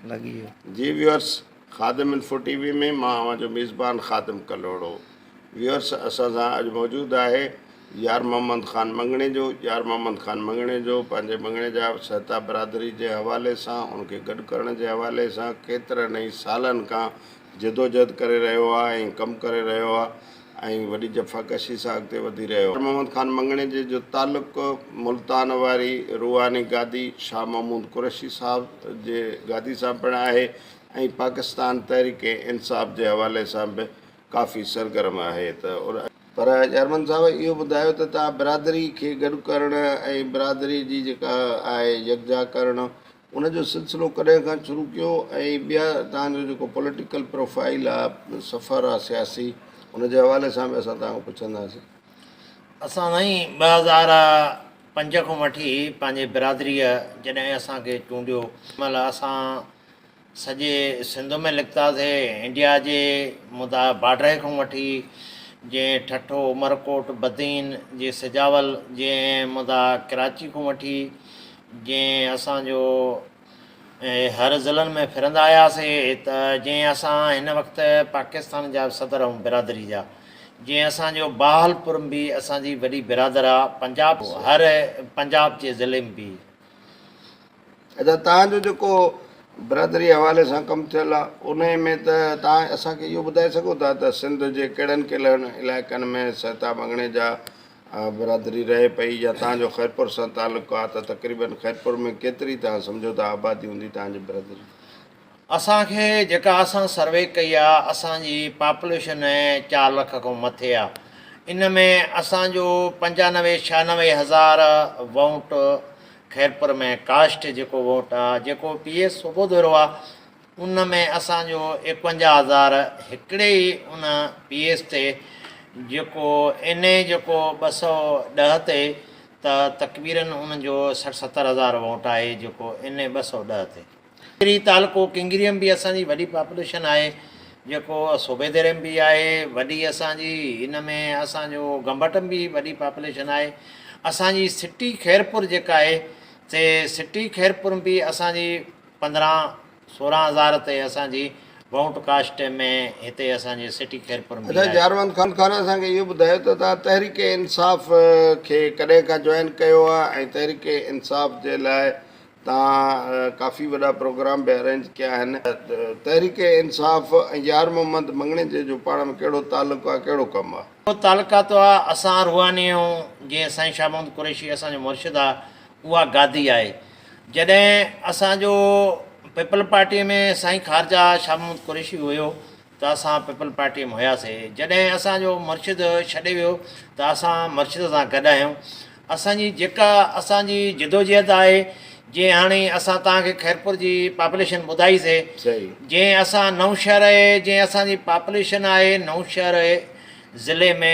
لڳي ويو. جي viewers Khadim info T V ۾ مان اوهان جو ميزبان خادم ڪلهوڙو ويورس اسان سان اڄ موجود آهي يار محمد خان مڱڻيجو يار محمد خان مڱڻيجو پنهنجي مڱڻي جا سهتا برادري جي حوالي سان ان کي گڏ ڪرڻ جي حوالي سان ڪيترن ئي سالن کان جدوجهد ڪري رهيو آ ۽ ڪم ڪري رهيو آ ۽ وڏي جفا ڪشي سان اڳتي وڌي رهيو آ. محمد خان مڱڻي جي جو تعلق ملتان واري روحاني گادي شاهه محمود قريشي صاحب جي گادي سان پڻ آهي ۽ پاڪستان تحريڪ انصاف جي حوالي سان به ڪافي سرگرم آهي ته پر چيئرمن صاحب اهو ٻڌايو ته توهان برادري کي گڏ ڪرڻ ۽ برادري جي جيڪا آهي يڪجا ڪرڻ ان جو سلسلو ڪڏهن کان شروع ڪيو ۽ ٻيا توهان جو جيڪو پوليٽيڪل پروفائيل آ سفر آ سياسي ان جي حوالي سان به اسان توهان کان پڇنداسين. اسان سائين ٻه هزار پنج کان وٺي پنهنجي برادريء جڏهن اسان کي چونڊيو ان مهل اسان سڄي سنڌ ۾ لکتاسي انڊيا جي مدعا باڊري کان وٺي جيئن ٺٽو عمرڪوٽ بدين جي سجاول جيئن مدعا ڪراچي کان وٺي جئين اسان جو هر ضلعن ۾ ڦرندا آياسي ته جئين اسان هن وقت پاڪستان جا به صدر ائون برادري جا جئين اسان جو باهلپور م به اسان جي وڏي برادر آ پنجاب هر پنجاب جي ضلعي م به ادا تان جو جيڪو برادري حوالي سان ڪم ٿيل آ انهي ۾ ته تان اسان کي اهو ٻڌائي سگهو ٿا ته سنڌ جي ڪهڙن ڪلهن علائقن ۾ سهتا مڱڻي جا برادري رهي پئي يا توهان جو خيرپور سان تعلق آ ته تقريبن خيرپور ۾ ڪيتري توهان سمجهو ٿا آبادي هوندي توهان جي برادري؟ اسان کي جيڪا اسان سروي ڪئي آ اسان جي پاپوليشن چار لک کان مٿي آ ان ۾ اسان جو پنجانوي ڇهانوي هزار ووٽ خيرپور ۾ ڪاسٽ جيڪو ووٽ آ جيڪو پي اي صوبو ڌرو آ ان ۾ اسان جو ايڪونجاهه هزار هڪڙي ئي ان پي ايس تي جيڪو اين اي جيڪو ٻه سؤ ڏهه تي ته تڪبيرن ان جو سٺ ستر هزار ووٽ آهي جيڪو اين اي ٻه سؤ ڏهه تي. ڪنگري تعلقو ڪنگري ۾ به اسان جي وڏي پاپوليشن آهي جيڪو صوبي ديري ۾ به آهي وڏي اسان جي ان ۾ اسان جو گمبٽ ۾ به وڏي پاپوليشن آهي اسان جي سٽي خيرپور جيڪا آهي سي سٽي خيرپور ۾ به اسان جي پندرهن سورهن هزار تي اسان جي ووٽ ڪاسٽ ۾ هتي اسان جي سٽي خيرپور ۾ اچا جاروند خان خان اسان کي اهو ٻڌايو ته توهان تحريڪ انصاف کي ڪڏهن کان جوائن ڪيو آهي ۽ تحريڪ انصاف جي لاء توهان ڪافي وڏا پروگرام به ارينج ڪيا آهن تحريڪ انصاف ۽ يار محمد مڱڻيجي جو پاڻ ۾ ڪهڙو تعلق آهي ڪهڙو ڪم آهي. اهو تعلقات آهي اسان روحاني آهيون جيئن سائين شاهه محمد قريشي اسان جو مرشد آهي اها گادي آهي. جڏهن اسان جو پيپلز پارٽيء ۾ سائين خارجه شاهه محمد قريشي هيو ته اسان پيپلز پارٽيء ۾ هياسي، جڏهن اسان جو مرشد ڇڏي ويو ته اسان مرشد سان گڏ آهيون، اسان جي جيڪا اسان جي جدوجهد آهي، جيئن هاڻي اسان توهان کي خيرپور جي پاپوليشن ٻڌائي سي، جيئن اسان نئونشهر جيئن اسان جي پاپوليشن آهي نئونشهر ضلعي ۾.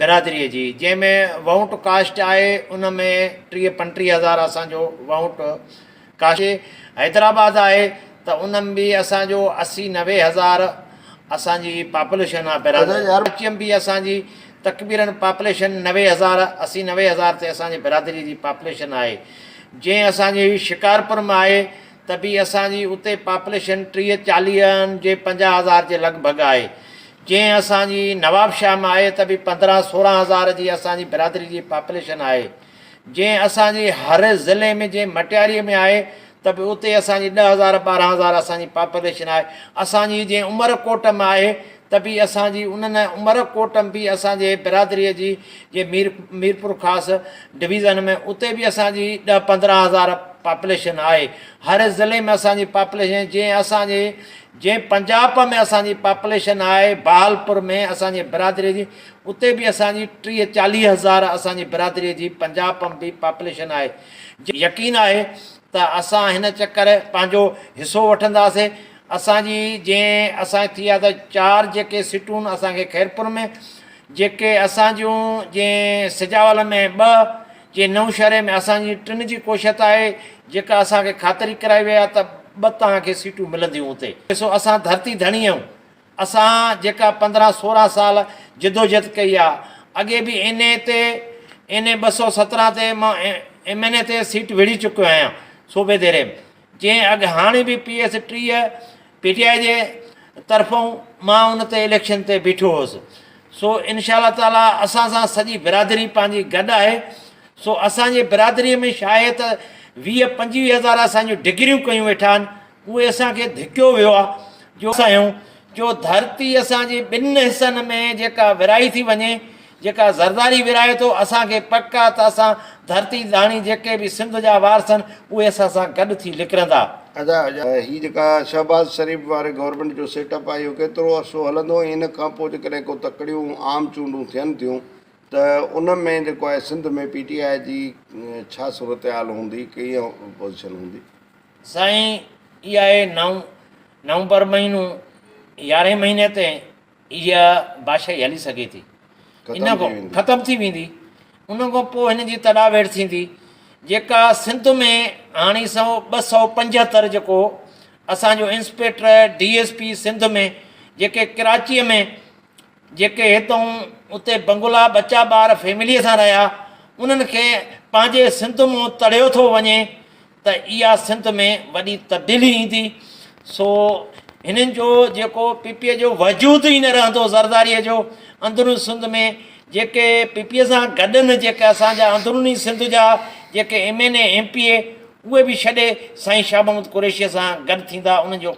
برادريء جي جنهن ۾ وهونٽ ڪاسٽ آهي ان ۾ ٽيهه پنٽيهه هزار اسان جو وهونٽ ڪاسٽ آهي حيدرآباد آهي ته ان ۾ به اسان جو اسي نوي هزار اسان جي پاپوليشن آهي برادري ڪراچيء ۾ به اسان جي تقبيرن پاپوليشن نوي هزار اسي نوي هزار تي اسان جي برادريء جي پاپوليشن آهي جنهن اسان جي شڪارپور ۾ آهي ته به اسان جي اتي پاپوليشن ٽيهه چاليهن جي پنجاهه هزار جي لڳ ڀڳ آهي. جي اسان جي نوابشاهه ۾ آهي ته به پندرهن سورهن هزار جي اسان جي برادري جي پاپوليشن آهي. جي اسان جي هر ضلعي ۾ جي مٽياريء ۾ آهي ته به اتي اسان جي ڏهه هزار ٻارهن هزار اسان جي پاپوليشن آهي. اسان جي جي عمرڪوٽ ۾ آهي ته به اسان جي انهن ۽ عمر ڪوٽ م به اسان جي برادريء جي جي مير ميرپور خاص ڊويزن ۾ اتي به اسان جي ڏهه پندرهن هزار پاپليشن آهي هر ضلعي ۾ اسان جي پاپليشن جي اسان جي جي پنجاپ ۾ اسان جي پاپليشن آهي بهالپور ۾ اسان جي برادريء جي اتي به اسان جي ٽيهه چاليهه هزار اسان جي برادريء جي پنجاپ م به پاپليشن آهي جي يقين آهي ته اسان هن چڪر پنهنجو حصو وٺنداسين. اسان جي جنهن اسان جي ٿي آ ته چار جيڪي سٽون اسان کي خيرپور ۾ جيڪي اسان جون جنهن سجاول ۾ ٻه جي نئون شهري ۾ اسان جي ٽن جي ڪوشت آهي جيڪا اسان کي خاطري ڪرائي وئي آ ته ٻه توهان کي سيٽون ملنديون اتي. ڏسو اسان ڌرتي ڌڻي اهيون اسان جيڪا پندرهن سورهن سال جدوجھد ڪئي آ اڳي به اين اي تي اين اي ٻه سؤ سترهن تي مان ايم اين اي تي سيٽ وڙهي چڪيو آهيان صوبي ديري ۾ جنهن اڳ هاڻي به پي ايس ٽيهه، پي ٽي آء جي طرفون مان ان تي اليڪشن تي بيٺو هوس. سو انشاء الله تعاليٰ اسان سان سڄي برادري پنهنجي گڏ آهي. سو اسان جي برادري ۾ شاهي ته ويهه پنجويهه هزار اسان جون ڊگريون ڪيون ويٺا آهن اهي اسان کي ڌڪيو ويو آهي جو اسان آهيون جو ڌرتي اسان جي ٻن حصن ۾ جيڪا ورهائي ٿي وڃي جيڪا زرداري ورهائي ٿو، اسان کي پڪ آ ته اسان ڌرتي ڌاڻي جيڪي به سنڌ جا وارثن اهي اسان سان گڏ ٿي لڪرندا. ادا هي جيڪا شهباز شريف واري گورنمينٽ جو سيٽ اپ آهي اهو ڪيترو عرصو هلندو ۽ ان کان پوء جيڪڏهن ڪو تڪڙيون عام چونڊون ٿين ٿيون ته ان ۾ جيڪو آهي سنڌ ۾ پي ٽي آء جي ڇا صورتحال هوندي ڪيئن پوزيشن هوندي. سائين اي آء نو نومبر مهينو يارهين مهيني تي اها بادشاهي هلي سگهي ٿي. ان کان ختم ٿي ويندي. ان کان پوء هن جي تڏاويڙ ٿيندي جيڪا سنڌ ۾ هاڻي سؤ ٻه سؤ پنجهتر جيڪو اسان جو inspector D S P Sindh ۾ جيڪي ڪراچيء ۾ جيڪي هتئون اتي بنگلا ٻچا ٻار فيمليء سان رهيا انهن کي پنهنجي سنڌ مون تڙيو ٿو وڃي ته اها سنڌ ۾ وڏي تبديلي ايندي سو هنن جو جيڪو پي پي جو وجود ئي نه رهندو زرداري جو اندرون سنڌ ۾ جيڪي پي پي سان گڏ نه جيڪي اسانجا اندروني سنڌ جا جيڪي M N A M P A اهي به ڇڏي سائين شاهه محمد قريشي سان گڏ ٿيندا انهن جو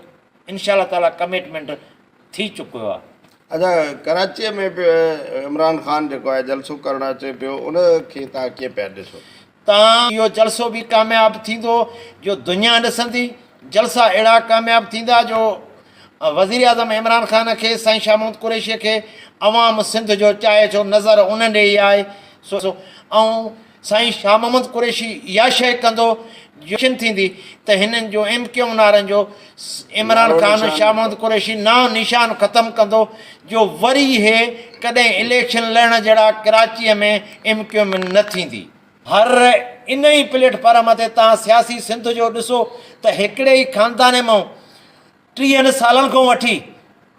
انشاء الله تعالي ڪميٽمينٽ ٿي چڪو آهي. ادا ڪراچي ۾ به عمران خان جيڪو آهي جلسو ڪرڻ اچي پيو ان کي تهان ڪيئن پيا ڏسو. تان اهو جلسو به ڪامياب ٿيندو جو دنيا ڏسندي، جلسا اهڙا ڪامياب ٿيندا جو وزيراعظم عمران خان کي سائين شاهه محمود قريشي کي عوام سنڌ جو چاهي ٿو نظر ان ڏي ئي آهي سو ۽ سائين شاهه محمود قريشي اها شيء ڪندو جو اليڪشن ٿيندي ته هنن جو ايم ڪيو نارن جو عمران خان شاھ محمد قريشي نانء نشان ختم ڪندو جو وري اھي ڪڏھن اليڪشن لڙڻ جھڙا ڪراچيء ۾ ايم ڪيو ايم نه ٿيندي. ھر انھي پليٽ فارم تي تھان سياسي سنڌ جو ڏسو ته ھڪڙي ئي خاندان مئن ٽيھن سالن کان وٺي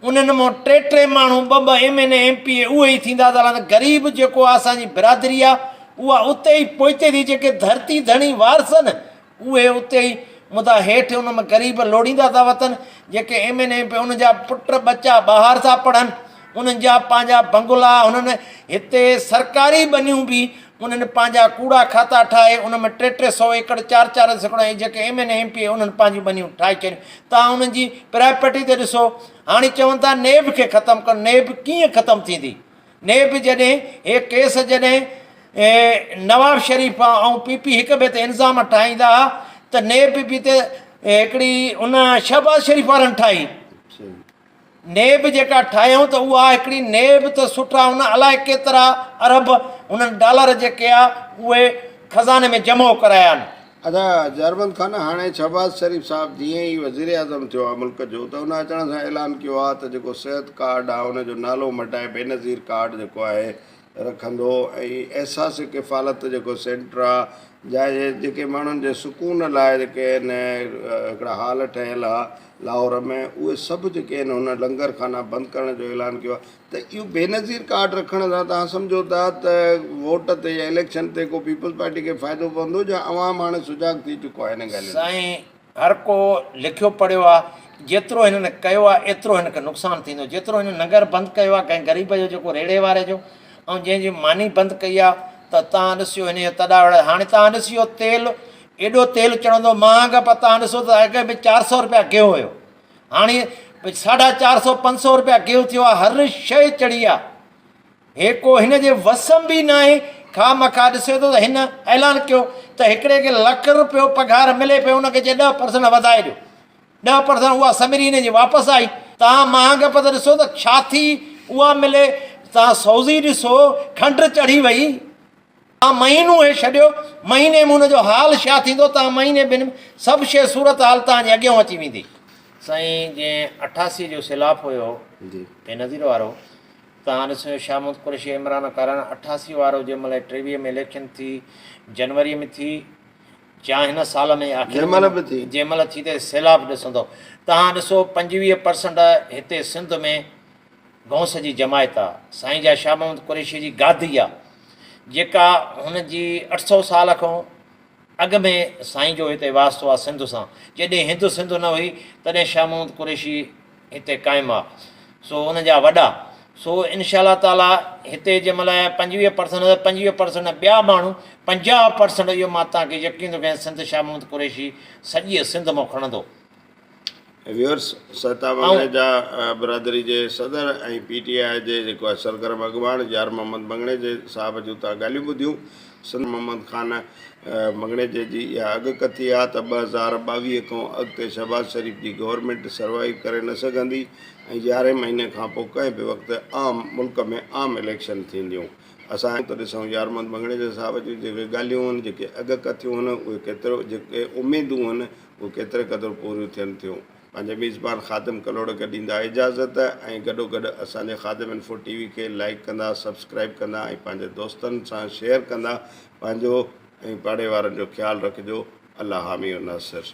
انهن مان ٽي ٽي ماڻهو ٻه ٻه M N A M P A اهي ئي ٿيندا ته هلاندا غريب جيڪو آ اسان جي برادري آ اها اتي ئي پوئتي ٿي جيڪي ڌرتي ڌڻي وارث آهن اهي اتي ئي مدعا هيٺ ان مان غريب لوڙيندا ٿا وتن جيڪي M N A M P A انهن جا پٽ ٻچا ٻاهر ٿا پڙهن انهن جا پنهنجا بنگلا هنن هتي سرڪاري ٻنيون به انهن پنهنجا ڪوڙا کاتا ٺاهي ان ۾ ٽي ٽي سؤ ايڪڙ چار چار سيڪڙا ۽ جيڪي M N M P A انهن پنهنجيون ٻنيون ٺاهي ڇڏيون توهان انهن جي پراپرٽي تي ڏسو هاڻي چون ٿا نيب کي ختم ڪرڻ نيب ڪيئن ختم ٿيندي نيب جڏهن هي ڪيس جڏهن نواب شريف ۽ پي پي هڪ ٻئي تي الزام ٺاهيندا ها ته نيب به ته هڪڙي ان شهباز شريف وارن ٺاهي نيب جيڪا ٺاهيائون ته اها هڪڙي نيب ته سٺا هن الائي ڪيترا ارب هنن ڊالر جيڪي آ اهي خزاني ۾ جمع ڪرايان. ادا جارمند خان هاڻي شهباز شريف صاحب جيئن ئي وزيراعظم ٿيو آ ملڪ جو ته ان اچڻ سان اعلان ڪيو آ ته جيڪو صحت ڪارڊ آ ان جو نالو مٽائي بينظير ڪارڊ جيڪو آهي رکندو ۽ احساس ڪفالت جيڪو سينٽر آ جا جيڪي ماڻهن جي سڪون لاء جيڪي ان هڪڙا هال ٺهيل ها لاهور ۾ اهي سڀ جيڪي ان هن لنگر خانا بند ڪرڻ جو اعلان ڪيو آ ته اهو بينظير ڪارڊ رکڻ سان توهان سمجهو ٿا ته ووٽ تي يا اليڪشن تي ڪو پيپلز پارٽي کي فائدو پوندو جا عوام هاڻي سجاڳ ٿي چڪو آ هنن ڳالهين ۾. سائين هر ڪو لکيو پڙهيو آ جيترو هنن ڪيو آ ايترو هن کي نقصان ٿيندو جيترو هن ننگر بند ڪيو آ ڪنهن غريب جو جيڪو ريڙهي واري جو ۽ جنهن جي ماني بند ڪئي آ ته تان ڏسيو هن جا تڏا وڙا هاڻي تان ڏسيو تيل ايڏو تيل چڙهندو مهانگ پر تان ڏسو ته اڳ ۾ چار سئو روپيا گيهو هيو هاڻي ساڍا چار سئو پنج سئو روپيا گيهو ٿيو آ هر شئي چڙهي آ هي ڪو هن جي وس م به ناهي، خواهه مخواهه ڏسي ٿو ته هن اعلان ڪيو ته هڪڙي کي لک روپيو پگهار ملي پئي ان کي چئي ڏهه پرسنٽ وڌائي ڏيو. ڏهه پرسنٽ اها سمري هن جي واپس آئي. توهان مهانگ پت ڏسو ته ڇا ٿي اها ملي توهان سوزي ڏسو کنڊ چڙهي وئي توهان مهينو هي ڇڏيو مهيني م هن جو حال ڇا ٿيندو توهان مهيني ٻن م سڀ شي صورت حال توهان جي اڳيون اچي ويندي. سائين جنهن اٺاسي جو سيلاب هيو بينظير وارو. ڪانگريس جو شاهمحمود قريشي عمران ڪارڻ اٺاسي وارو جنهن مهل ٽيويهه ۾ اليڪشن ٿي جنوري ۾ ٿي يا هن سال ۾ آخر جنهن مهل ٿي ته سيلاب ڏسندو توهان ڏسو پنجويهه پرسنٽ هتي سنڌ ۾ گئونس جي جماعت آ سائين جا شاهمحمود قريشي جي گادي آ جيڪا هن جي اٺ سؤ سال کان اڳ ۾ سائين جو هتي واسطو آ سنڌ سان، جيڏهن هند سنڌ نه هئي تڏهن شاهه محمود قريشي هتي قائم آ سو ان جا وڏا سو انشاء الله تعاليٰ هتي جنهن مهل پنجويهه پرسنٽ نه ته پنجويهه پرسنٽ نه ٻيا ماڻهو پنجاهه پرسنٽ اهو مان توهان کي يقين ٿو ڪيان سنڌ شاهه محمود قريشي سڄيء سنڌ مان کڻندو. ويورس سهتا بنگڙي جا برادري جي صدر ۽ پي ٽي آء جي جيڪو آهي سرگرم اڳواڻ يار محمد بنگڙي جي صاحب جون تان ڳالهيون ٻڌيون سندس محمد خان بنگڙيجي جي اها اڳڪٿي آهي ته ٻه هزار ٻاويهه کان اڳتي شهباز شريف جي گورنمينٽ سروائيو ڪري نه سگهندي ۽ يارهين مهيني کان پوء ڪنهن به وقت عام ملڪ ۾ عام اليڪشن ٿينديون اسان اچون ته ڏسون يار محمد بنگڙيجي صاحب جون جيڪي ڳالهيون هن جيڪي اڳڪٿيون هن اهي ڪيترو جيڪي اميدون هن اهي ڪيتري قدر پوريون ٿين ٿيون، پنهنجا ميزبان خادم ڪلهوڙڪ ڏيندا اجازت ۽ گڏوگڏ اسان جي خادم انفو ٽي وي کي لائيڪ ڪندا، سبسڪرائيب ڪندا ۽ پنهنجي دوستن سان شيئر ڪندا، پنهنجو ۽ پاڙي وارن جو خيال رکجو، الله حامي و ناصر.